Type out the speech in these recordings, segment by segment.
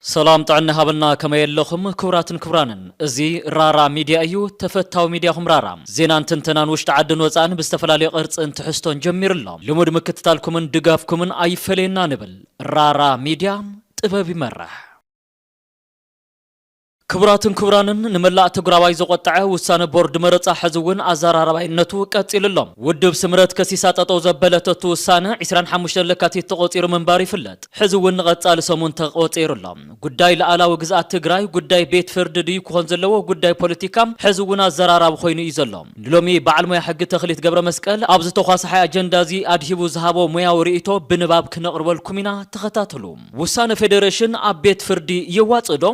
ሰላም ጥዕና ይሃበልና ከመይ ኣለኹም ክቡራትን ክቡራንን እዚ ራራ ሚድያ እዩ ተፈታዊ ሚድያኹም ራራ ዜናን ትንተናን ውሽጢ ዓድን ወፃእን ብዝተፈላለዩ ቅርፅን ትሕዝቶን ጀሚሩ ኣሎ ልሙድ ምክትታልኩምን ድጋፍኩምን ኣይፈለየና ንብል ራራ ሚድያ ጥበብ ይመርሕ። ክቡራትን ክቡራንን ንመላእ ተጉራባይ ዘቖጠዐ ውሳነ ቦርድ መረፃ ሕዚ እውን ኣዘራራባይነቱ ቀፂሉ ኣሎ። ውድብ ስምረት ከሲሳ ጠጠው ዘበለተቱ ውሳነ ዕስራን ሓሙሽተን ለካቲት ተቖፂሩ ምንባሩ ይፍለጥ። ሕዚ እውን ንቐፃሊ ሰሙን ተቐፂሩ ኣሎ። ጉዳይ ልኣላዊ ግዝኣት ትግራይ ጉዳይ ቤት ፍርዲ ድዩ ክኾን ዘለዎ ጉዳይ ፖለቲካ ሕዚ እውን ኣዘራራቢ ኮይኑ እዩ ዘሎ። ንሎሚ በዓል ሞያ ሕጊ ተኽሊት ገብረመስቀል ኣብዚ ተዃሳሓይ ኣጀንዳ እዚ ኣድሂቡ ዝሃቦ ሞያዊ ርኢቶ ብንባብ ክነቕርበልኩም ኢና ተኸታተሉ። ውሳነ ፌደሬሽን ኣብ ቤት ፍርዲ የዋፅእ ዶ?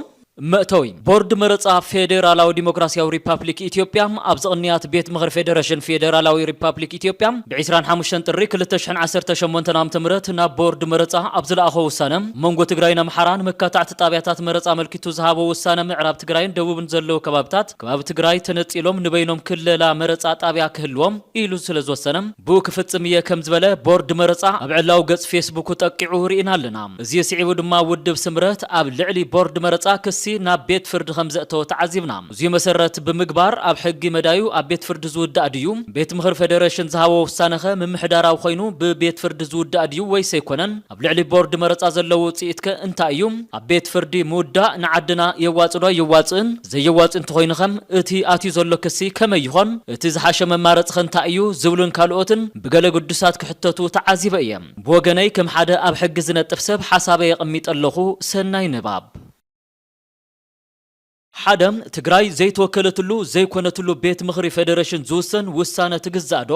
መእተዊ፣ ቦርድ መረጻ ፌዴራላዊ ዲሞክራሲያዊ ሪፓፕሊክ ኢትዮጵያ፣ ኣብዚ ቅንያት ቤት ምኽሪ ፌደረሽን ፌዴራላዊ ሪፓፕሊክ ኢትዮጵያ ብ ዕስራን ሓሙሽተን ጥሪ ክልተ ሽሕን ዓሰርተ ሸሞንተን ዓመተ ምህረት ናብ ቦርድ መረጻ ኣብ ዝለኣኾ ውሳነ መንጎ ትግራይን ኣምሓራን መካታዕቲ ጣብያታት መረጻ ኣመልኪቱ ዝሃቦ ውሳነ ምዕራብ ትግራይን ደቡብን ዘለዉ ከባብታት ከባቢ ትግራይ ተነፂሎም ንበይኖም ክለላ መረፃ ጣብያ ክህልዎም ኢሉ ስለዝወሰነ ብኡ ክፍፅም እየ ከምዝበለ ቦርድ መረፃ ኣብ ዕላዊ ገፅ ፌስቡኩ ጠቂዑ ርኢና ኣለና። እዙይ ስዒቡ ድማ ውድብ ስምረት ኣብ ልዕሊ ቦርድ መረፃ ክሲ ናብ ቤት ፍርዲ ከምዘእተወ ተዓዚብና። እዙይ መሰረት ብምግባር ኣብ ሕጊ መዳዩ ኣብ ቤት ፍርዲ ዝውዳእ ድዩ? ቤት ምኽሪ ፌደሬሽን ዝሃቦ ውሳነኸ ምምሕዳራዊ ኮይኑ ብቤት ፍርዲ ዝውዳእ ድዩ ወይስ ኣይኮነን? ኣብ ልዕሊ ቦርድ መረፃ ዘሎ ውፅኢት ከ እንታይ እዩ? ኣብ ቤት ፍርዲ ምውዳእ ንዓድና የዋፅ ዶ ኣየዋፅእን? ዘየዋፅእ እንተኾይኑ ከ እቲ ኣትዩ ዘሎ ክሲ ከመይ ይኾን? እቲ ዝሓሸ መማረፂ ከ እንታይ እዩ? ዝብሉን ካልኦትን ብገለ ግዱሳት ክሕተቱ ተዓዚበ እየ። ብወገነይ ከም ሓደ ኣብ ሕጊ ዝነጥፍ ሰብ ሓሳበይ ኣቐሚጠ ኣለኹ። ሰናይ ንባብ። ሓደ፣ ትግራይ ዘይተወከለትሉ፣ ዘይኮነትሉ ቤት ምኽሪ ፌደሬሽን ዝውሰን ውሳነ ትግዛእ ዶ?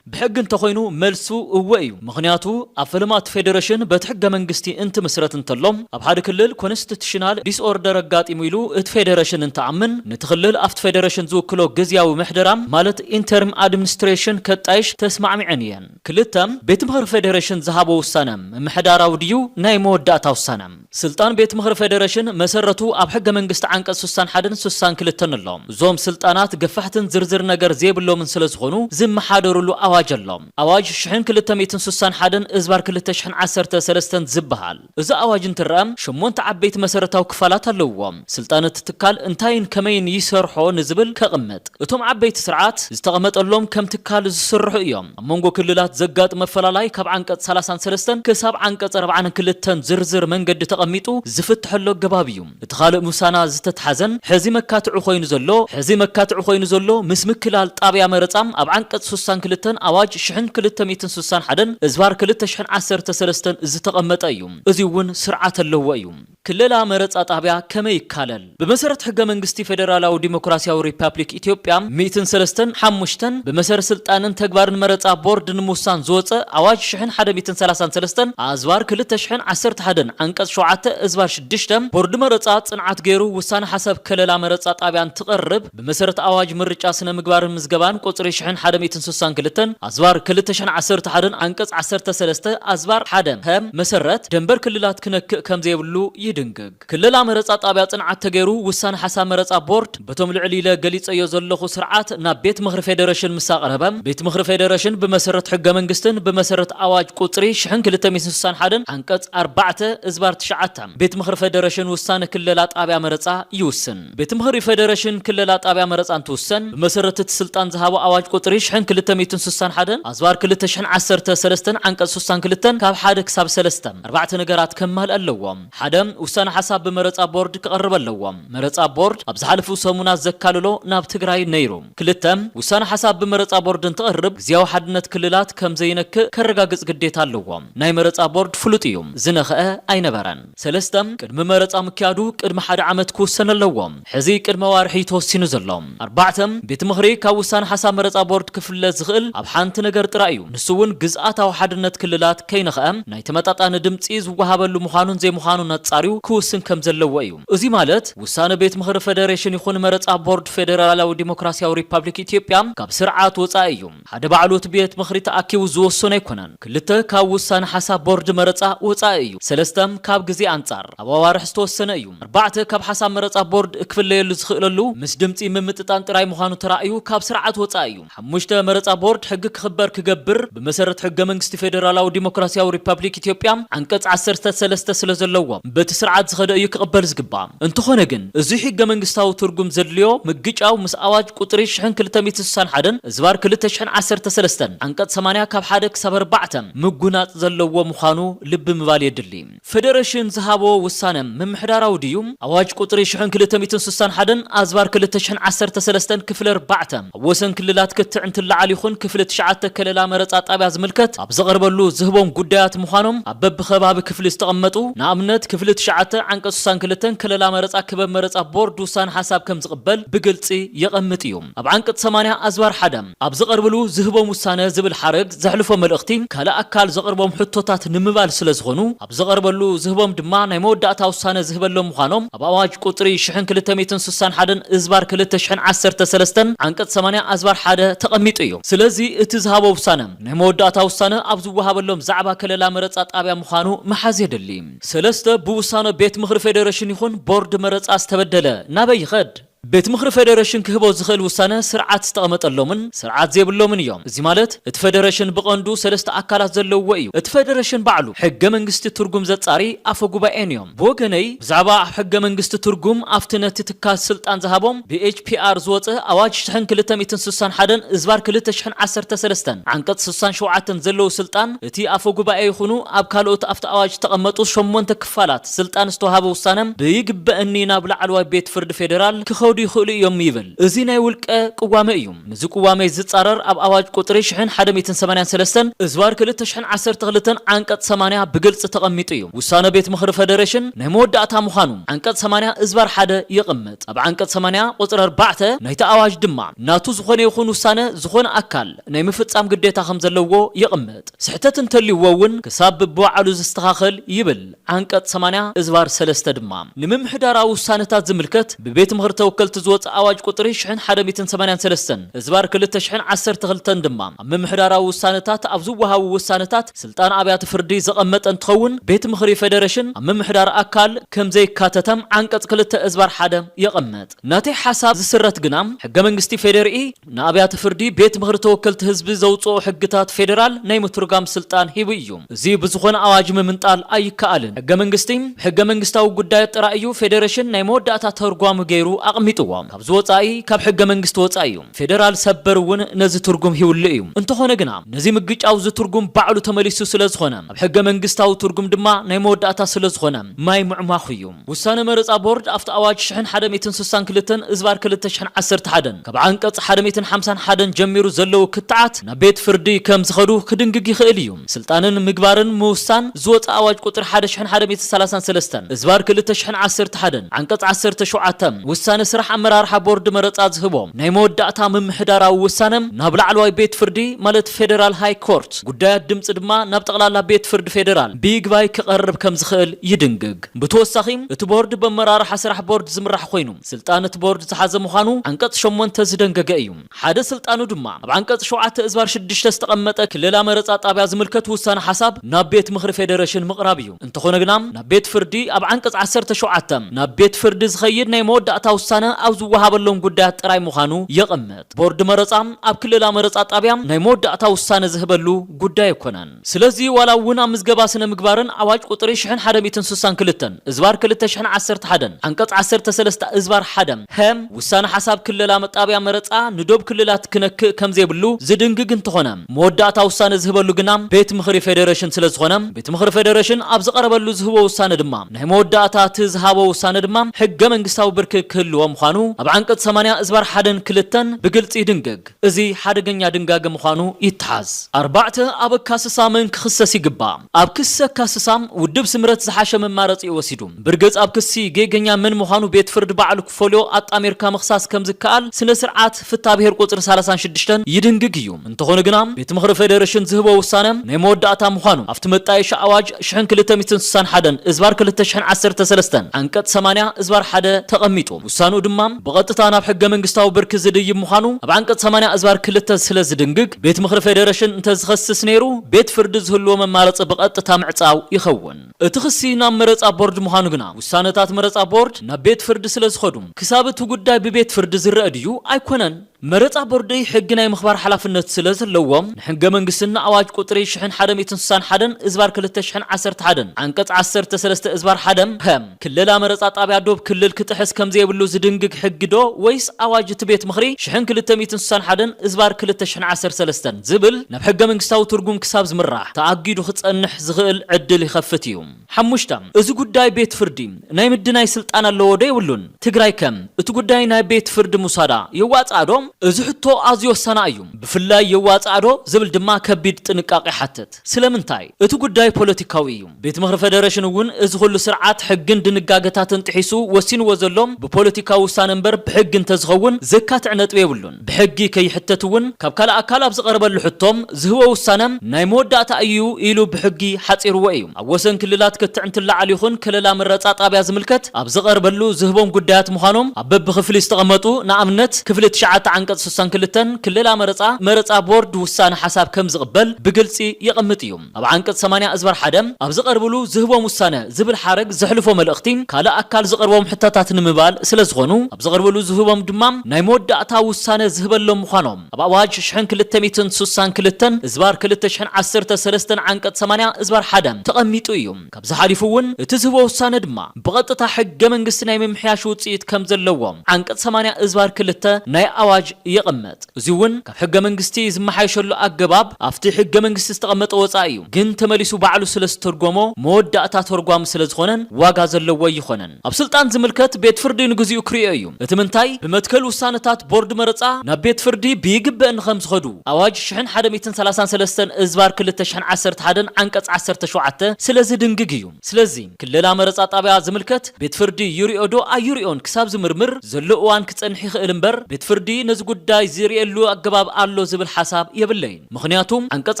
ብሕጊ እንተኾይኑ መልሱ እወ እዩ። ምኽንያቱ ኣብ ፈለማ እቲ ፌደሬሽን በቲ ሕገ መንግስቲ እንትምስረት እንተሎ ኣብ ሓደ ክልል ኮንስቲቱሽናል ዲስኦርደር ኣጋጢሙ ኢሉ እቲ ፌደሬሽን እንትኣምን ነቲ ክልል ኣብቲ ፌደሬሽን ዝውክሎ ግዝያዊ ምሕደራ ማለት ኢንተርም ኣድምንስትሬሽን ከጣይሽ ተስማዕሚዐን እየን። ክልተ፣ ቤት ምኽሪ ፌዴሬሽን ዝሃቦ ውሳነ ምምሕዳራዊ ድዩ ናይ መወዳእታ ውሳነ? ስልጣን ቤት ምኽሪ ፌዴሬሽን መሰረቱ ኣብ ሕገ መንግስቲ ዓንቀፅ ስሳን ሓደን ስሳን ክልተን ኣሎ። እዞም ስልጣናት ገፋሕትን ዝርዝር ነገር ዘይብሎምን ስለዝኾኑ ዝመሓደሩሉ ኣዋጅ ኣሎ። ኣዋጅ ሽሕን ክልተ ሚእትን ስሳን ሓደን እዝባር ክልተ ሽሕን ዓሰርተ ሰለስተን ዝብሃል። እዚ ኣዋጅ እንትረኣ ሸሞንተ ዓበይቲ መሰረታዊ ክፋላት ኣለዉዎ። ስልጣን እቲ ትካል እንታይን ከመይን ይሰርሖ ንዝብል ከቕምጥ። እቶም ዓበይቲ ስርዓት ዝተቐመጠሎም ከም ትካል ዝስርሑ እዮም። ኣብ መንጎ ክልላት ዘጋጥም ኣፈላላይ ካብ ዓንቀፅ ሰላሳን ሰለስተን ክሳብ ዓንቀፅ ኣርብዓን ክልተን ዝርዝር መንገዲ ተቐሚጡ ዝፍትሐሉ ኣገባብ እዩ። እቲ ካልእ ምሳና ዝተትሓዘን ሕዚ መካትዒ ኮይኑ ዘሎ ሕዚ መካትዒ ኮይኑ ዘሎ ምስ ምክላል ጣብያ መረፃ ኣብ ዓንቀፅ ሱሳን ክልተን ኣዋጅ ሽሕን ክልተ ሚእትን ሱሳን ሓደን እዝባር ክልተ ሽሕን ዓሰርተ ሰለስተን ዝተቐመጠ እዩ። እዙይ እውን ስርዓት ኣለዎ እዩ። ክለላ መረፃ ጣብያ ከመይ ይካለል? ብመሰረት ሕገ መንግስቲ ፌደራላዊ ዲሞክራሲያዊ ሪፓፕሊክ ኢትዮጵያ ሚእትን ሰለስተን ሓሙሽተን ብመሰረት ስልጣንን ተግባርን መረፃ ቦርድ ንምውሳን ዝወፀ ኣዋጅ ሽሕን ሓደ ሚእትን ሰላሳን ሰለስተን ኣዝባር ክልተ ሽሕን ዓሰርተ ሓደን ዓንቀፅ ሸውዓተ እዝባር ሽዱሽተ ቦርድ መረፃ ፅንዓት ገይሩ ውሳነ ሓሳብ ከለላ መረፃ ጣብያ እንትቐርብ ብመሰረት ኣዋጅ ምርጫ ስነ ምግባርን ምዝገባን ቁፅሪ ሽሕን ሓደ ሚእትን ስሳን ክልተን ኣዝባር ክልተ ሽሕን ዓሰርተ ሓደን ዓንቀፅ ዓሰርተ ሰለስተ ኣዝባር ሓደ ሀ መሰረት ደንበር ክልላት ክነክእ ከምዘይብሉ ይድንግግ። ክለላ መረፃ ጣብያ ፅንዓት ተገይሩ ውሳነ ሓሳብ መረፃ ቦርድ በቶም ልዕል ኢለ ገሊፀዮ ዘለኹ ስርዓት ናብ ቤት ምኽሪ ፌዴሬሽን ምስ ኣቕረበ ቤት ምኽሪ ፌዴሬሽን ብመሰረት ሕገ መንግስትን ብመሰረት ኣዋጅ ቁፅሪ ሽሕን ክልተ ሚእትን ስሳን ሓደን ዓንቀፅ ኣርባዕተ እዝባር ትሽዓተ ቤት ምኽሪ ፌዴሬሽን ውሳነ ክለላ ጣብያ መረፃ ይውስን። ቤት ምኽሪ ፌዴሬሽን ክለላ ጣብያ መረፃ እንትውሰን ብመሰረት እቲ ስልጣን ዝሃቦ ኣዋጅ ቁፅሪ ሽሕን ክልተ ሚእትን ስሳን ሓደን ኣዝባር ክልተ ሽሕን ዓሰርተ ሰለስተን ዓንቀፅ ስሳን ክልተን ካብ ሓደ ክሳብ ሰለስተ ኣርባዕተ ነገራት ከማልእ ኣለዎ። ሓደ ውሳነ ሓሳብ ብመረፃ ቦርድ ክቐርብ ኣለዎ። መረፃ ቦርድ ኣብ ዝሓለፉ ሰሙናት ዘካለሎ ናብ ትግራይ ነይሩ። ክልተ፣ ውሳነ ሓሳብ ብመረፃ ቦርድ እንትቐርብ ግዝያዊ ሓድነት ክልላት ከምዘይነክእ ከረጋግፅ ግዴታ ኣለዎ። ናይ መረፃ ቦርድ ፍሉጥ እዩ፣ ዝነኸአ ኣይነበረን። ሰለስተ፣ ቅድሚ መረፃ ምክያዱ ቅድሚ ሓደ ዓመት ክውሰን ኣለዎ። ሕዚ ቅድመ ኣዋርሒ ተወሲኑ ዘሎ ኣርባዕተ ቤት ምኽሪ ካብ ውሳነ ሓሳብ መረፃ ቦርድ ክፍለ ዝኽእል ኣብ ሓንቲ ነገር ጥራይ እዩ። ንሱ እውን ግዝኣታዊ ሓድነት ክልላት ከይነኸኣ ናይ ተመጣጣኒ ድምፂ ዝወሃበሉ ምዃኑን ዘይምዃኑን ኣፃርዩ ክውስን ከም ዘለዎ እዩ። እዙይ ማለት ውሳነ ቤት ምኽሪ ፌዴሬሽን ይኹን መረፃ ቦርድ ፌዴራላዊ ዴሞክራሲያዊ ሪፓብሊክ ኢትዮጵያ ካብ ስርዓት ወፃኢ እዩ። ሓደ ባዕሉ እቲ ቤት ምኽሪ ተኣኪቡ ዝወሰኖ ኣይኮነን። ክልተ ካብ ውሳነ ሓሳብ ቦርድ መረፃ ወፃኢ እዩ። ሰለስተ ካብ ግዜ ኣንፃር ኣብ ኣዋርሕ ዝተወሰነ እዩ። ኣርባዕተ ካብ ሓሳብ መረፃ ቦርድ ክፍለየሉ ዝኽእለሉ ምስ ድምፂ ምምጥጣን ጥራይ ምዃኑ ተራእዩ ካብ ስርዓት ወፃኢ እዩ። ሓሙሽተ መረፃ ቦርድ ሕጊ ክኽበር ክገብር ብመሰረት ሕገ መንግስቲ ፌደራላዊ ዲሞክራሲያዊ ሪፐብሊክ ኢትዮጵያ ዓንቀፅ ዓሰርተ ሰለስተ ስለዘለዎ በቲ ስርዓት ዝኸደ እዩ ክቕበል ዝግባእ። እንተኾነ ግን እዙይ ሕገ መንግስታዊ ትርጉም ዘድልዮ ምግጫው ምስ ኣዋጅ ቁፅሪ ሽሕን ክልተ ሚእትን ስሳን ሓደን እዝባር ክልተ ሽሕን ዓሰርተ ሰለስተን ዓንቀፅ ሰማንያ ካብ ሓደ ክሳብ ኣርባዕተ ምጉናፅ ዘለዎ ምዃኑ ልቢ ምባል የድሊ። ፈደረሽን ዝሃቦ ውሳነ ምምሕዳራዊ ድዩ? ኣዋጅ ቁፅሪ ሽሕን ክልተ ሚእትን ስሳን ሓደን ኣዝባር ክልተ ሽሕን ዓሰርተ ሰለስተን ክፍሊ ኣርባዕተ ኣብ ወሰን ክልላት ክትዕ እንትለዓል ይኹን ክፍሊ ትሽዓተ ከለላ መረፃ ጣብያ ዝምልከት ኣብ ዝቐርበሉ ዝህቦም ጉዳያት ምዃኖም ኣብ በቢከባቢ ክፍሊ ዝተቐመጡ ንኣብነት ክፍሊ ትሽዓተ ዓንቀፅ ስሳን ክልተን ከለላ መረፃ ክበብ መረፃ ቦርድ ውሳነ ሓሳብ ከምዝቕበል ብግልፂ የቐምጥ እዩ። ኣብ ዓንቀጽ ሰማንያ ኣዝባር ሓደ ኣብ ዝቐርብሉ ዝህቦም ውሳነ ዝብል ሓረግ ዘሕልፎ መልእኽቲ ካልእ ኣካል ዘቕርቦም ሕቶታት ንምባል ስለ ዝኾኑ ኣብ ዝቐርበሉ ዝህቦም ድማ ናይ መወዳእታ ውሳነ ዝህበሎም ምዃኖም ኣብ ኣዋጅ ቁጽሪ ሽሕን ክልተ ሚእትን ሱሳን ሓደን እዝባር ክልተ ሽሕን ዓሰርተ ሰለስተ ዓንቀጽ ሰማንያ ኣዝባር ሓደ ተቐሚጡ እዩ። ስለዚ እቲ ዝሃቦ ውሳነ ናይ መወዳእታ ውሳነ ኣብ ዝወሃበሎም ዛዕባ ከለላ መረጻ ጣብያ ምዃኑ ምሓዝ የድሊ። ሰለስተ ብውሳነ ቤት ምኽሪ ፌደረሽን ይኹን ቦርድ መረጻ ዝተበደለ ናበይ ይኸድ? ቤት ምኽሪ ፌደረሽን ክህቦ ዝኽእል ውሳነ ስርዓት ዝተቐመጠሎምን ስርዓት ዘይብሎምን እዮም። እዚ ማለት እቲ ፌደረሽን ብቐንዱ ሰለስተ ኣካላት ዘለውዎ እዩ። እቲ ፌደረሽን ባዕሉ፣ ሕገ መንግስቲ ትርጉም ዘጻሪ ኣፈ ጉባኤን እዮም። ብወገነይ ብዛዕባ ኣብ ሕገ መንግስቲ ትርጉም ኣብቲ ነቲ ትካል ስልጣን ዝሃቦም ብኤችፒኣር ዝወጸ ኣዋጅ ሽሕን ክልተ ሚእትን ስሳን ሓደን እዝባር ክልተ ሽሕን ዓሰርተ ሰለስተን ዓንቀጽ ስሳን ሸውዓተን ዘለዉ ስልጣን እቲ ኣፈ ጉባኤ ይኹኑ ኣብ ካልኦት ኣብቲ ኣዋጅ ዝተቐመጡ ሸሞንተ ክፋላት ስልጣን ዝተውሃበ ውሳነ ብይግበእኒ ናብ ላዕለዋይ ቤት ፍርዲ ፌደራል ክኸዱ ይኽእሉ እዮም ይብል። እዚ ናይ ውልቀ ቅዋመ እዩ። ምስዚ ቅዋመይ ዝፃረር ኣብ ኣዋጅ ቁፅሪ ሽሕን ሓደ ሚእትን ሰማንያን ሰለስተን እዝባር ክልተ ሽሕን ዓሰርተ ክልተን ዓንቀፅ ሰማንያ ብግልፂ ተቐሚጡ እዩ። ውሳነ ቤት ምኽሪ ፈደሬሽን ናይ መወዳእታ ምዃኑ ዓንቀፅ ሰማንያ እዝባር ሓደ የቐምጥ። ኣብ ዓንቀፅ ሰማንያ ቁፅሪ ኣርባዕተ ናይቲ ኣዋጅ ድማ ናቱ ዝኾነ ይኹን ውሳነ ዝኾነ ኣካል፣ ናይ ምፍጻም ግዴታ ከም ዘለዎ የቕምጥ። ስሕተት እንተልዩዎ እውን ክሳብ ብብባዕሉ ዝስተኻኸል ይብል ዓንቀጽ ሰማንያ እዝባር ሰለስተ ድማ። ንምምሕዳራዊ ውሳነታት ዝምልከት ብቤት ምኽሪ ተወከልቲ ዝወጽእ ኣዋጅ ቁጽሪ ሽሕን ሓደ ሚእትን ሰማንያን ሰለስተን እዝባር ክልተ ሽሕን ዓሰርተ ክልተን ድማ ኣብ ምምሕዳራዊ ውሳነታት ኣብ ዝወሃቡ ውሳነታት ስልጣን ኣብያተ ፍርዲ ዘቐመጠ እንትኸውን ቤት ምኽሪ ፌደረሽን ኣብ ምምሕዳር ኣካል ከም ዘይካተተ ዓንቀጽ ክልተ እዝባር ሓደ የቐምጥ። ናተይ ሓሳብ ዝስረት ግና ሕገ መንግስቲ ፌዴሪኢ ንኣብያተ ፍርዲ ቤት ምኽሪ ተወከልቲ ህዝቢ ዘውጽኦ ሕግታት ፌደራል ናይ ምትርጓም ስልጣን ሂቡ እዩ። እዚ ብዝኾነ ኣዋጅ ምምንጣል ኣይከኣልን። ሕገ መንግስቲ ብሕገ መንግስታዊ ጉዳያት ጥራይ እዩ ፌደረሽን ናይ መወዳእታ ተርጓሚ ገይሩ ኣቕሚጥዎ። ካብዚ ወጻኢ ካብ ሕገ መንግስቲ ወጻኢ እዩ። ፌደራል ሰበር እውን ነዚ ትርጉም ሂብሉ እዩ። እንተኾነ ግና ነዚ ምግጫው እዚ ትርጉም ባዕሉ ተመሊሱ ስለዝኾነ ኣብ ሕገ መንግስታዊ ትርጉም ድማ ናይ መወዳእታ ስለዝኾነ ማይ ምዕሟኹ እዩ። ውሳነ መረፃ ቦርድ ኣብቲ ኣዋጅ ሽሕን ሓደ ሚእትን ስሳን ክልተን እዝባር ክልተ ሽሕን ዓሰርተ ሓደን ካብ ዓንቀፅ ሓደ ሚእትን ሓምሳን ሓደን ጀሚሩ ዘለዉ ክትዓት ናብ ቤት ፍርዲ ከም ዝኸዱ ክድንግግ ይኽእል እዩ። ስልጣንን ምግባርን ምውሳን ዝወፀ ኣዋጅ ቁፅሪ ሓደ ሽሕን ሓደ ሚእትን ሰላሳን ሰለስተን እዝባር ክልተ ሽሕን ዓሰርተ ሓደን ዓንቀፅ ዓሰርተ ሸውዓተ ውሳነ ስራሕ ኣመራርሓ ቦርድ መረፃ ዝህቦ ናይ መወዳእታ ምምሕዳራዊ ውሳነ ናብ ላዕለዋይ ቤት ፍርዲ ማለት ፌደራል ሃይ ኮርት ጉዳያት ድምፂ ድማ ናብ ጠቕላላ ቤት ፍርዲ ፌደራል ብይግባይ ክቐርብ ከም ዝኽእል ይድንግግ። ብተወሳኺ እቲ ቦርድ በመራርሓ ስራሕ ቦርድ ዝምራሕ ኮይኑ ስልጣን እቲ ቦርድ ዝሓዘ ምዃኑ ዓንቀፅ ሸሞንተ ዝደንገገ እዩ። ሓደ ስልጣኑ ድማ ኣብ ዓንቀፅ ሸውዓተ እዝባር ሽዱሽተ ዝተቐመጠ ክለላ መረፃ ጣብያ ዝምልከት ውሳነ ሓሳብ ናብ ቤት ምኽሪ ፌደረሽን ምቕራብ እዩ። እንተኾነ ግና ናብ ቤት ፍርዲ ኣብ ዓንቀፅ ዓሰርተ ሸውዓተ ናብ ቤት ፍርዲ ዝኸይድ ናይ መወዳእታ ውሳነ ኣብ ዝወሃበሎም ጉዳያት ጥራይ ምዃኑ የቐምጥ። ቦርድ መረፃ ኣብ ክለላ መረፃ ጣብያ ናይ መወዳእታ ውሳነ ዝህበሉ ጉዳይ ኣይኮነን። ስለዚ ዋላ እውን ኣብ ምዝገባ ስነ ምግባርን ኣዋጅ ቁፅሪ ሽሕን ሓደ ሚእትን ስሳን ክልተን እዝባር ክልተ ሽሕን ዓሰርተ ሓደን ዓንቀፅ ዓሰርተ ሰለስተ እዝባር ሓደ ሀ ውሳነ ሓሳብ ክለላ መጣብያ መረፃ ንዶብ ክልላት ክነክእ ከምዘይብሉ ዝድንግግ እንተኾነ መወዳእታ ውሳነ ዝህበሉ ግና ቤት ምኽሪ ፌዴሬሽን ስለዝኾነ ቤት ምኽሪ ፌዴሬሽን ኣብ ዝቐረበሉ ዝህቦ ውሳነ ድማ ናይ መወዳእታ እቲ ዝሃቦ ውሳነ ድማ ሕገ መንግስታዊ ብርኪ ክህልዎ ምዃኑ ኣብ ዓንቀፅ ሰማንያ እዝባር ሓደን ክልተን ብግልፂ ይድንግግ። እዚ ሓደገኛ ድንጋገ ምዃኑ ይተሓዝ። ኣርባዕተ፣ ኣብ ኣካስሳ መን ክኽሰስ ይግባእ? ኣብ ክሲ ኣካስሳ፣ ውድብ ስምረት ዝሓሸ መማረፂኡ ወሲዱ። ብርግፅ ኣብ ክሲ ጌገኛ መን ምዃኑ ቤት ፍርዲ ባዕሉ ክፈልዮ ኣጣሚርካ ምኽሳስ ከም ዝከኣል ስነ ስርዓት ፍትሃ ብሄር ቁፅሪ ሰላሳን ሽዱሽተን ይድንግግ እዩ። እንተኾነ ግና ቤት ምኽሪ ፌዴሬሽን ዝህቦ ውሳነ ናይ መወዳእታ ምዃኑ ኣብቲ መጣየሻ ኣዋጅ ሽሕን ክልተ ሚእትን ስሳን ሓደን እዝባር ክልተ ሽሕን ዓሰርተ ሰለስተን ዓንቀፅ ሰማንያ እዝባር ሓደ ተቐሚጡ ውሳንኡ ድማ ብቐጥታ ናብ ሕገ መንግስታዊ ብርኪ ዝድይብ ምዃኑ ኣብ ዓንቀፅ ሰማንያ እዝባር ክልተ ስለ ዝድንግግ ቤት ምኽሪ ፌዴሬሽን እንተዝኸስስ ነይሩ ቤት ፍርዲ ዝህልዎ መማረፂ ብቐጥታ ምዕፃው ይኸውን። እቲ ክሲ ናብ መረፃ ቦርድ ምዃኑ ግና ውሳነታት መረፃ ቦርድ ናብ ቤት ፍርዲ ስለ ዝኸዱ ክሳብ እቲ ጉዳይ ብቤት ፍርዲ ዝረእ ድዩ ኣይኮነን? መረፃ ቦርደይ ሕጊ ናይ ምኽባር ሓላፍነት ስለ ዘለዎ ንሕገ መንግስትን ንኣዋጅ ቁፅሪ ሽሕን ሓደ ሚእትን ስሳን ሓደን እዝባር ክልተ ሽሕን ዓሰርተ ሓደን ዓንቀፅ ዓሰርተ ሰለስተ እዝባር ሓደ ፐ ክለላ መረፃ ጣብያ ዶብ ክልል ክጥሕስ ከም ዘየብሉ ዝድንግግ ሕጊ ዶ ወይስ ኣዋጅ እቲ ቤት ምኽሪ ሽሕን ክልተ ሚእትን ስሳን ሓደን እዝባር ክልተ ሽሕን ዓሰርተ ሰለስተን ዝብል ናብ ሕገ መንግስታዊ ትርጉም ክሳብ ዝምራሕ ተኣጊዱ ክፀንሕ ዝኽእል ዕድል ይኸፍት እዩ። ሓሙሽተ፣ እዚ ጉዳይ ቤት ፍርዲ ናይ ምድናይ ስልጣን ኣለዎ ዶ የብሉን? ትግራይ ከ እቲ ጉዳይ ናብ ቤት ፍርዲ ምውሳዳ የዋጽኣ ዶ? እዚ ሕቶ ኣዝዩ ወሳና እዩ። ብፍላይ የዋጽኣ ዶ ዝብል ድማ ከቢድ ጥንቃቐ ይሓትት። ስለምንታይ? እቲ ጉዳይ ፖለቲካዊ እዩ። ቤት ምኽሪ ፈደረሽን እውን እዚ ኹሉ ስርዓት፣ ሕግን ድንጋገታትን ጥሒሱ ወሲንዎ ዘሎ ብፖለቲካዊ ውሳነ እምበር ብሕጊ እንተዝኸውን ዘካትዕ ነጥቢ የብሉን። ብሕጊ ከይሕተት እውን ካብ ካልእ ኣካል ኣብ ዝቐረበሉ ሕቶ ዝህቦ ውሳነ ናይ መወዳእታ እዩ ኢሉ ብሕጊ ሓፂርዎ እዩ። ኣብ ወሰን ክልላት ክትዕ እንትለዓል ይኹን ከለላ መረፃ ጣብያ ዝምልከት ኣብ ዝቐርበሉ ዝህቦም ጉዳያት ምዃኖም ኣብ በቢክፍሊ ዝተቐመጡ ንኣብነት ክፍሊ ትሽዓተ ዓንቀፅ ስሳን ክልተን ክለላ መረፃ መረፃ ቦርድ ውሳነ ሓሳብ ከምዝቕበል ብግልፂ የቐምጥ እዩ። ኣብ ዓንቀጽ ሰማንያ እዝባር ሓደ ኣብ ዝቐርብሉ ዝህቦም ውሳነ ዝብል ሓረግ ዘሕልፎ መልእኽቲ ካልእ ኣካል ዝቐርቦም ሕቶታት ንምባል ስለ ዝኾኑ ኣብ ዝቐርብሉ ዝህቦም ድማ ናይ መወዳእታ ውሳነ ዝህበሎም ምዃኖም ኣብ ኣዋጅ ሽሕን ክልተ ሚእትን ስሳን ክልተን እዝባር ክልተ ሽሕን ዓሰርተ ሰለስተን ዓንቀጽ ሰማንያ እዝባር ሓደ ተቐሚጡ እዩ። ካብዚ ሓሊፉ እውን እቲ ዝህቦ ውሳነ ድማ ብቐጥታ ሕገ መንግስቲ ናይ ምምሕያሽ ውፅኢት ከም ዘለዎ ዓንቀፅ ሰማንያ እዝባር ክልተ ናይ ኣዋጅ የቐምጥ። እዙይ እውን ካብ ሕገ መንግስቲ ዝመሓየሸሉ ኣገባብ ኣፍቲ ሕገ መንግስቲ ዝተቐመጠ ወፃኢ እዩ። ግን ተመሊሱ ባዕሉ ስለ ዝተርጎሞ መወዳእታ ተርጓሚ ስለ ዝኾነን ዋጋ ዘለዎ ኣይኾነን። ኣብ ስልጣን ዝምልከት ቤት ፍርዲ ንግዚኡ ክሪኦ እዩ። እቲ ምንታይ ብመትከል ውሳነታት ቦርድ መረፃ ናብ ቤት ፍርዲ ብይግበእ እንኸም ዝኸዱ ኣዋጅ ሽሕን ሓደ ሚእትን ሰላሳን ሰለስተን እዝባር ክልተ ሽሕን ዓሰርተ ሓደን ዓንቀፅ ዓሰርተ ሸውዓተ ስለ ዝድንግግ እዩ። ስለዚ ክለላ መረፃ ጣብያ ዝምልከት ቤት ፍርዲ ይሪኦ ዶ ኣይሪኦን ክሳብ ዝምርምር ዘሎ እዋን ክፀንሕ ይኽእል እምበር ቤት ፍርዲ ነዚ ጉዳይ ዝሪኤሉ ኣገባብ ኣሎ ዝብል ሓሳብ የብለይን። ምኽንያቱ ዓንቀፅ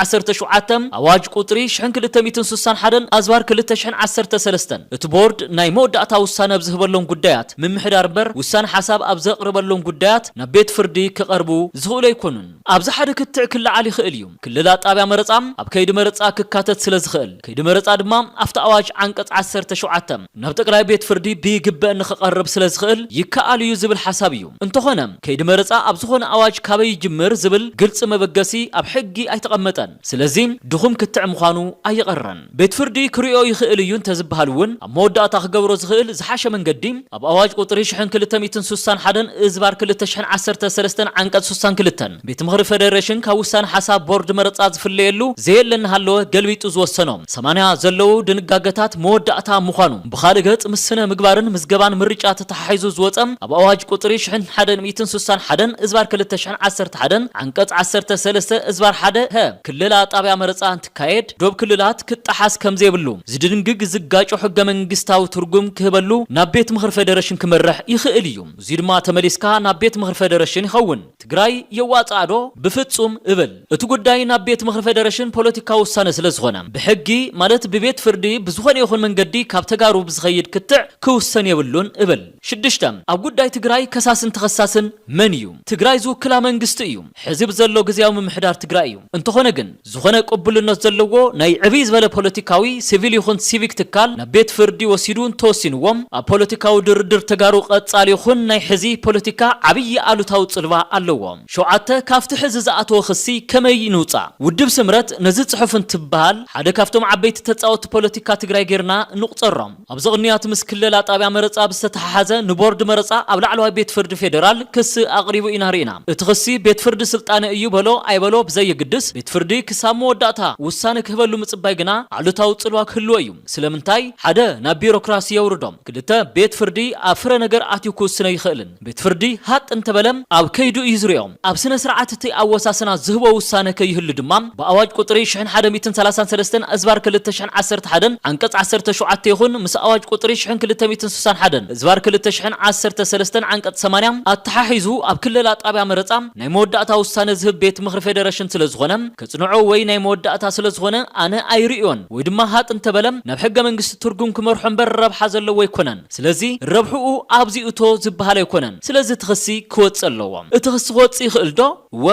ዓሰርተ ሸውዓተ ኣዋጅ ቁፅሪ ሽሕን ክልተ ሚእትን ስሳን ሓደን ኣዝባር ክልተ ሽሕን ዓሰርተ ሰለስተን እቲ ቦርድ ናይ መወዳእታ ውሳነ ኣብ ዝህበሎም ጉዳያት ምምሕዳር እምበር ውሳነ ሓሳብ ኣብ ዘቕርበሎም ጉዳያት ናብ ቤት ፍርዲ ክቐርቡ ዝኽእሉ ኣይኮኑን። ኣብዚ ሓደ ክትዕ ክለዓል ይኽእል እዩ። ክልላ ጣብያ መረፃ ኣብ ከይዲ መረፃ ክካተት ስለዝኽእል ከይዲ መረፃ ድማ ኣብቲ ኣዋጅ ዓንቀፅ ዓሰርተ ሸውዓተ፣ ናብ ጠቅላይ ቤት ፍርዲ ብይግበእ ንክቀርብ ስለዝክእል ይከኣል እዩ ዝብል ሓሳብ እዩ። እንተኾነ ከይዲ መረፃ ኣብ ዝኾነ ኣዋጅ ካበይ ይጅምር ዝብል ግልፂ መበገሲ ኣብ ሕጊ ኣይተቀመጠን። ስለዚ ድኹም ክትዕ ምዃኑ ኣይቀረን። ቤት ፍርዲ ክሪኦ ይክእል እዩ እንተዝበሃል እውን ኣብ መወዳእታ ክገብሮ ዝክእል ዝሓሸ መንገዲ ኣብ ኣዋጅ ቁፅሪ ሽሕን ክልተ ሚእትን ሱሳን ሓደን እዝባር ክልተ ሽሕን ዓሰርተ ሰለስተን ዓንቀፅ ሱሳን ክልተ ቤት ምኽሪ ፈደረሽን ካብ ውሳነ ሓሳብ ቦርድ መረፃ ዝፍለየሉ ዘየለ እናሃለወ ገልቢጡ ዝወሰኖ ሰማንያ ዘለዉ ድንጋገታት መወዳእታ ምዃኑ ብኻልእ ገፅ ምስ ስነ ምግባርን ምዝገባን ምርጫ ተተሓሒዙ ዝወፀ ኣብ ኣዋጅ ቁፅሪ ሽሕን ሓደን ሚእትን ሱሳን ሓደን እዝባር ክልተ ሽሕን ዓሰርተ ሓደን ዓንቀፅ ዓሰርተ ሰለስተ እዝባር ሓደ ሀ ክልላ ጣብያ መረፃ እንትካየድ ዶብ ክልላት ክጣሓስ ከምዘይብሉ ዝድንግግ ዝጋጮ ሕገ መንግስታዊ ትርጉም ክህበሉ ናብ ቤት ምኽሪ ፈደረሽን ክመርሕ ይኽእል እዩ እዙይ ድማ ተመሊስካ ናብ ቤት ምኽሪ ፈደረሽን ይኸውን። ትግራይ የዋፅኣ ዶ? ብፍፁም እብል። እቲ ጉዳይ ናብ ቤት ምኽሪ ፌደሬሽን ፖለቲካዊ ውሳነ ስለዝኾነ ብሕጊ ማለት ብቤት ፍርዲ ብዝኾነ ይኹን መንገዲ ካብ ተጋሩ ብዝኸይድ ክትዕ ክውሰን የብሉን እብል። ሽዱሽተ፣ ኣብ ጉዳይ ትግራይ ከሳስን ተኸሳስን መን እዩ? ትግራይ ዝውክላ መንግስቲ እዩ። ሕዚ ብዘሎ ግዝያዊ ምምሕዳር ትግራይ እዩ። እንተኾነ ግን። ዝኾነ ቅቡልነት ዘለዎ ናይ ዕብይ ዝበለ ፖለቲካዊ፣ ሲቪል ይኹን ሲቪክ ትካል ናብ ቤት ፍርዲ ወሲዱ እንተወሲንዎ ኣብ ፖለቲካዊ ድርድር ተጋሩ ቐፃሊ ይኹን ናይ ሕዚ ፖለቲካ ዓብይ ኣሉታዊ ፅልዋ ኣለዎ። ሸውዓተ፣ ካፍቲ ሕዚ ዝኣተወ ክሲ ከመይ ንውፃእ? ውድብ ስምረት ነዚ ፅሑፍ እንትበሃል ሓደ ካፍቶም ዓበይቲ ተፃወቲ ፖለቲካ ትግራይ ገይርና ንቑፀሮ። ኣብዚ ቅንያት ምስ ክለላ ጣብያ መረፃ ብዝተተሓሓዘ ንቦርድ መረፃ ኣብ ላዕለዋይ ቤት ፍርዲ ፌደራል ክሲ ኣቕሪቡ ኢና ሪኢና። እቲ ክሲ ቤት ፍርዲ ስልጣነ እዩ በሎ ኣይበሎ ብዘይግድስ ቤት ፍርዲ ክሳብ መወዳእታ ውሳነ ክህበሉ ምፅባይ ግና ኣሉታዊ ፅልዋ ክህልዎ እዩ። ስለምንታይ? ሓደ ናብ ቢሮክራሲ የውርዶ። ክልተ ቤት ፍርዲ ኣብ ፍረ ነገር ኣትዩ ክውስነ ይኽእልን። ቤት ፍርዲ ሃቅ እንተበለ ኣብ ከይዱ እዩ ዝሪኦ። ኣብ ስነ ስርዓት እቲ ኣወሳስና ዝህቦ ውሳነ ከይህሉ ድማ ብኣዋጅ ቁፅሪ ሽሕን ሓደ ሚእትን ሰላሳን ሰለስተን እዝባር ክልተ ሽሕን ዓሰርተ ሓደን ዓንቀፅ ዓሰርተ ሸውዓተ ይኹን ምስ ኣዋጅ ቁፅሪ ሽሕን ክልተ ሚእትን ስሳን ሓደን እዝባር ክልተ ሽሕን ዓሰርተ ሰለስተን ዓንቀፅ ሰማንያ ኣተሓሒዙ ኣብ ክለላ ጣብያ መረፃ ናይ መወዳእታ ውሳነ ዝህብ ቤት ምኽሪ ፌደረሽን ስለ ዝኾነ ከፅንዖ ወይ ናይ መወዳእታ ስለ ዝኾነ ኣነ ኣይርእዮን ወይ ድማ ሃቅ እንተበለ ናብ ሕገ መንግስቲ ትርጉም ክመርሖ እምበር ረብሓ ዘለዎ ኣይኮነን። ስለዚ ረብሕኡ ኣብዚ እቶ ዝበሃል ኣይኮነን። ስለዚ እቲ ክሲ ክወጽእ ኣለዎ። እቲ ክሲ ክወጽእ ይኽእል ዶ? እወ።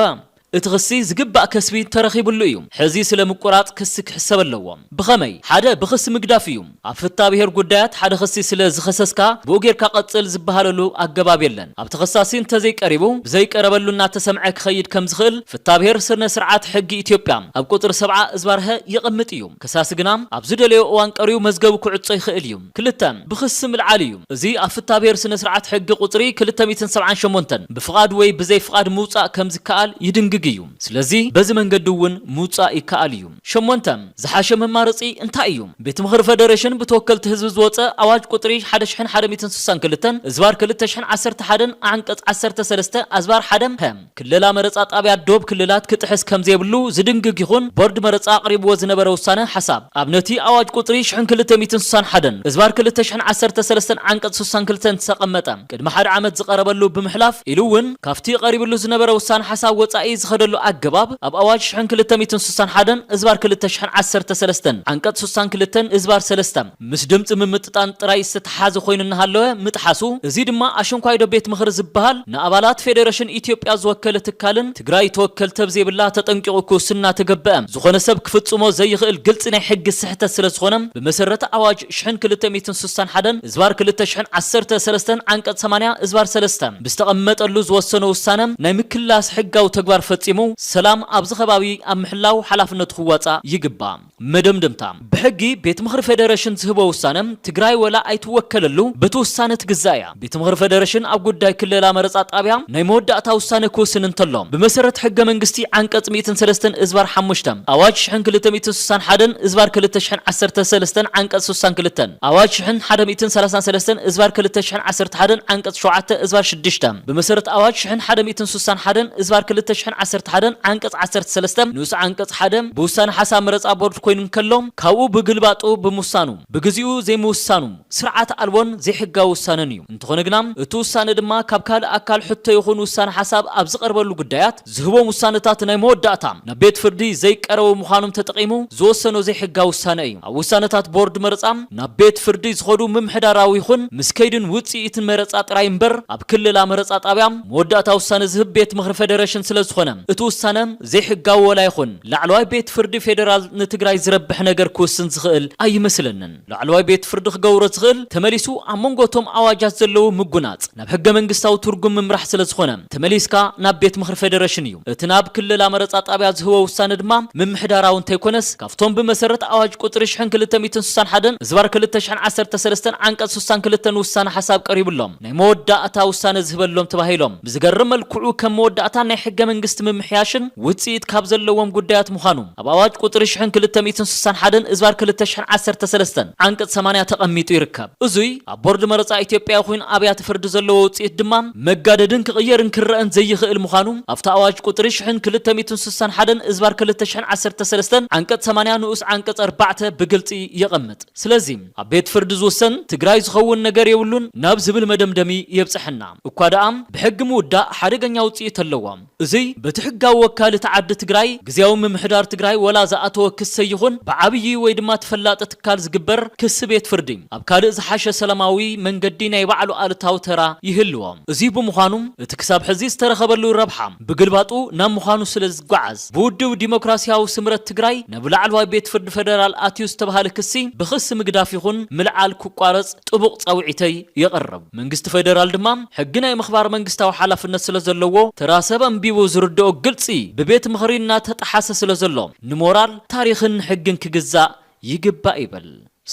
እቲ ክሲ ዝግባእ ከስቢ ተረኺብሉ እዩ። ሕዚ ስለ ምቁራጽ ክሲ ክሕሰብ ኣለዎ። ብኸመይ? ሓደ ብክሲ ምግዳፍ እዩ። ኣብ ፍታብሄር ጉዳያት ሓደ ክሲ ስለ ዝኸሰስካ ብኡ ጌርካ ቀጽል ዝበሃለሉ ኣገባብ የለን። ኣብቲ ከሳሲ እንተዘይቀሪቡ ብዘይቀረበሉ እናተሰምዐ ክኸይድ ከም ዝኽእል ፍታብሄር ስርነ ስርዓት ሕጊ ኢትዮጵያ ኣብ ቁጽሪ ሰብዓ እዝባር-ሀ የቐምጥ እዩ። ከሳሲ ግና ኣብ ዝደለዮ እዋን ቀሪቡ መዝገቡ ክዕጾ ይኽእል እዩ። ክልተ፣ ብክሲ ምልዓል እዩ። እዚ ኣብ ፍታብሄር ስነስርዓት ሕጊ ቁጽሪ ክልተ ሚእትን ሰብዓን ሸሞንተን ብፍቓድ ወይ ብዘይ ፍቓድ ምውጻእ ከም ዝከኣል ይድንግግ እዩ። ስለዚ በዚ መንገዲ እውን ምውጻእ ይከኣል እዩ። ሸሞንተ፣ ዝሓሸ መማረጺ እንታይ እዩ? ቤት ምኽሪ ፈደረሽን ብተወከልቲ ህዝቢ ዝወጸ ኣዋጅ ቁጽሪ ሓደ ሽሕን ሓደ ሚእትን ስሳን ክልተን እዝባር ክልተ ሽሕን ዓሰርተ ሓደን ኣንቀጽ ዓሰርተ ሰለስተ ኣዝባር ሓደ፣ ፐ፣ ክለላ መረፃ ጣብያ ዶብ ክልላት ክጥሕስ ከምዘይብሉ ዝድንግግ ይኹን ቦርድ መረፃ ኣቕሪብዎ ዝነበረ ውሳነ ሓሳብ ኣብ ነቲ ኣዋጅ ቁፅሪ ሽሕን ክልተ ሚእትን ስሳን ሓደን እዝባር ክልተ ሽሕን ዓሰርተ ሰለስተን ዓንቀፅ ስሳን ክልተን ዝተቐመጠ ቅድሚ ሓደ ዓመት ዝቐረበሉ ብምሕላፍ ኢሉ እውን ካብቲ ቐሪብሉ ዝነበረ ውሳነ ሓሳብ ወፃኢ ዝኸደሉ ኣገባብ ኣብ ኣዋጅ ሽሕን ክልተ ሚእትን ስሳን ሓደን እዝባር ክልተ ሽሕን ዓሰርተ ሰለስተን ዓንቀፅ ስሳን ክልተን እዝባር ሰለስተ ምስ ድምጺ ምምጥጣን ጥራይ ዝተተሓሓዘ ኮይኑ እናሃለወ ምጥሓሱ፣ እዚ ድማ ኣሽንኳይዶ ቤት ምኽሪ ዝበሃል ንኣባላት ፌደረሽን ኢትዮጵያ ዝወከለ ትካልን ትግራይ ተወከልቲ ኣብ ዘይብላ ተጠንቂቑ ክውስን እናተገበኣ ዝኾነ ሰብ ክፍፅሞ ዘይኽእል ግልፂ ናይ ሕጊ ስሕተት ስለዝኾነ ብመሰረት ኣዋጅ ሽሕን ክልተ ሚእትን ስሳን ሓደን እዝባር ክልተ ሽሕን ዓሰርተ ሰለስተን ዓንቀፅ ሰማንያ እዝባር ሰለስተ ብዝተቐመጠሉ ዝወሰኖ ውሳነ ናይ ምክልላስ ሕጋዊ ተግባር ፈፂሙ ሰላም ኣብዚ ከባቢ ኣብ ምሕላው ሓላፍነቱ ክዋፃእ ይግባእ። መደምደምታ፣ ብሕጊ ቤት ምኽሪ ፌደረሽን ዝህቦ ውሳነ ትግራይ ወላ ኣይትወከለሉ በቲ ውሳነ ትግዛእ እያ። ቤት ምኽሪ ፌደረሽን ኣብ ጉዳይ ክልላ መረፃ ጣብያ ናይ መወዳእታ ውሳነ ክውስን እንተሎ ብመሰረት ሕገ መንግስቲ ዓንቀፅ ሚእትን ሰለስተን እዝባር ሓሙሽተ ኣዋጅ ሽሕን ክልተ ሚእትን ስሳን ሓደን እዝባር ክልተ ሽሕን ዓሰርተ ሰለስተን ዓንቀፅ ስሳን ክልተን ኣዋጅ ሽሕን ሓደ ሚእትን ሰላሳን ሰለስተን እዝባር ክልተ ሽሕን ዓሰርተ ሓደን ዓንቀፅ ሸውዓተ እዝባር ሽዱሽተ ብመሰረት ኣዋጅ ሽሕን ሓደ ሚእትን ብውሳነ ሓደን እዝባር ክልተ ሽሕን ዓሰርተ ሓደን ዓንቀፅ ዓሰርተ ሰለስተ ንኡስ ዓንቀፅ ሓደ ብውሳነ ሓሳብ መረፃ ቦርድ ኮይኑ እንከሎ ካብኡ ብግልባጡ ብምውሳኑ ብግዚኡ ዘይምውሳኑ ስርዓት ኣልቦን ዘይሕጋዊ ውሳነን እዩ። እንተኾነ ግና እቲ ውሳነ ድማ ካብ ካልእ ኣካል ሕቶ ይኹን ውሳነ ሓሳብ ኣብ ዝቐርበሉ ጉዳያት ዝህቦም ውሳነታት ናይ መወዳእታ ናብ ቤት ፍርዲ ዘይቀረቡ ምዃኖም ተጠቒሙ ዝወሰኖ ዘይሕጋዊ ውሳነ እዩ። ኣብ ውሳነታት ቦርድ መረፃ ናብ ቤት ፍርዲ ዝኸዱ ምምሕዳራዊ ይኹን ምስ ከይድን ውፅኢትን መረፃ ጥራይ እምበር ኣብ ክልላ መረፃ ጣብያ መወዳእታ ውሳነ ዝህብ ቤት ምኽሪ ፌደሬሽን ስለዝኾነ እቲ ውሳነ ዘይሕጋዊ ወላ ይኹን ላዕለዋይ ቤት ፍርዲ ፌደራል ንትግራይ ዝረብሕ ነገር ክውስን ዝኽእል ኣይመስለንን። ላዕለዋይ ቤት ፍርዲ ክገብሮ ዝኽእል ተመሊሱ ኣብ መንጎ እቶም ኣዋጃት ዘለዉ ምጉናፅ ናብ ሕገ መንግስታዊ ትርጉም ምምራሕ ስለዝኾነ ተመሊስካ ናብ ቤት ምኽሪ ፌደሬሽን እዩ። እቲ ናብ ክለላ መረፃ ጣብያ ዝህቦ ውሳነ ድማ ምምሕዳራዊ እንተይኮነስ ካብቶም ብመሰረት ኣዋጅ ቁፅሪ ሽሕን ክልተ ሚእትን ስሳን ሓደን ህዝባር ክልተ ሽሕን ዓሰርተ ሰለስተን ዓንቀፅ ስሳን ክልተን ውሳነ ሓሳብ ቀሪቡሎም ናይ መወዳእታ ውሳነ ዝህበሎም ተባሂሎም ብዝገርም መልክዑ ከም መወዳእታ ናይ ሕገ መንግስቲ ምምሕያሽን ውፅኢት ካብ ዘለዎም ጉዳያት ምዃኑ ኣብ ኣዋጅ ቁፅሪ ሽሕን ክልተ ሚእትን ስሳን ሓደን እዝባር ክልተ ሽሕን ዓሰርተ ሰለስተን ዓንቀፅ ሰማንያ ተቐሚጡ ይርከብ። እዙይ ኣብ ቦርድ መረፃ ኢትዮጵያ ይኹን ኣብያተ ፍርዲ ዘለዎ ውፅኢት ድማ መጋደድን ክቕየርን ክረእን ዘይኽእል ምዃኑ ኣብቲ ኣዋጅ ቁፅሪ ሽሕን ክልተ ሚእትን ስሳን ሓደን እዝባር ክልተ ሽሕን ዓሰርተ ሰለስተን ዓንቀፅ ሰማንያ ንኡስ ዓንቀፅ ኣርባዕተ ብግልፂ የቐምጥ። ስለዚ ኣብ ቤት ፍርዲ ዝውሰን ትግራይ ዝኸውን ነገር የብሉን ናብ ዝብል መደምደሚ የብፀሐና። እኳ ደኣ ብሕጊ ምውዳእ ሓደገኛ ውፅኢት ኣለዎ። እዙይ በቲ ሕጋዊ ወካሊ እቲ ዓዲ ትግራይ ግዝያዊ ምምሕዳር ትግራይ ወላ ዝኣተወ ክሰ ይኹን ብዓብዪ ወይ ድማ ተፈላጢ ትካል ዝግበር ክሲ ቤት ፍርዲ ኣብ ካልእ ዝሓሸ ሰላማዊ መንገዲ ናይ ባዕሉ ኣሉታዊ ተራ ይህልዎ። እዙይ ብምዃኑ እቲ ክሳብ ሕዚ ዝተረኸበሉ ረብሓ ብግልባጡ ናብ ምዃኑ ስለ ዝጓዓዝ፣ ብውድብ ዲሞክራሲያዊ ስምረት ትግራይ ናብ ላዕለዋይ ቤት ፍርዲ ፈደራል ኣትዩ ዝተብሃለ ክሲ ብክሲ ምግዳፍ ይኹን ምልዓል ክቋረፅ ጥቡቕ ፃውዒተይ የቕርብ። መንግስቲ ፈደራል ድማ ሕጊ ናይ ምኽባር መንግስታዊ ሓላፍነት ስለ ዘለዎ ተራ ሰብ ኣንቢቡ ዝርደኦ ግልፂ ብቤት ምኽሪ እናተጠሓሰ ስለ ዘሎ ንሞራል፣ ታሪኽን ሕግን ክግዛእ ይግባእ ይብል።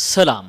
ሰላም!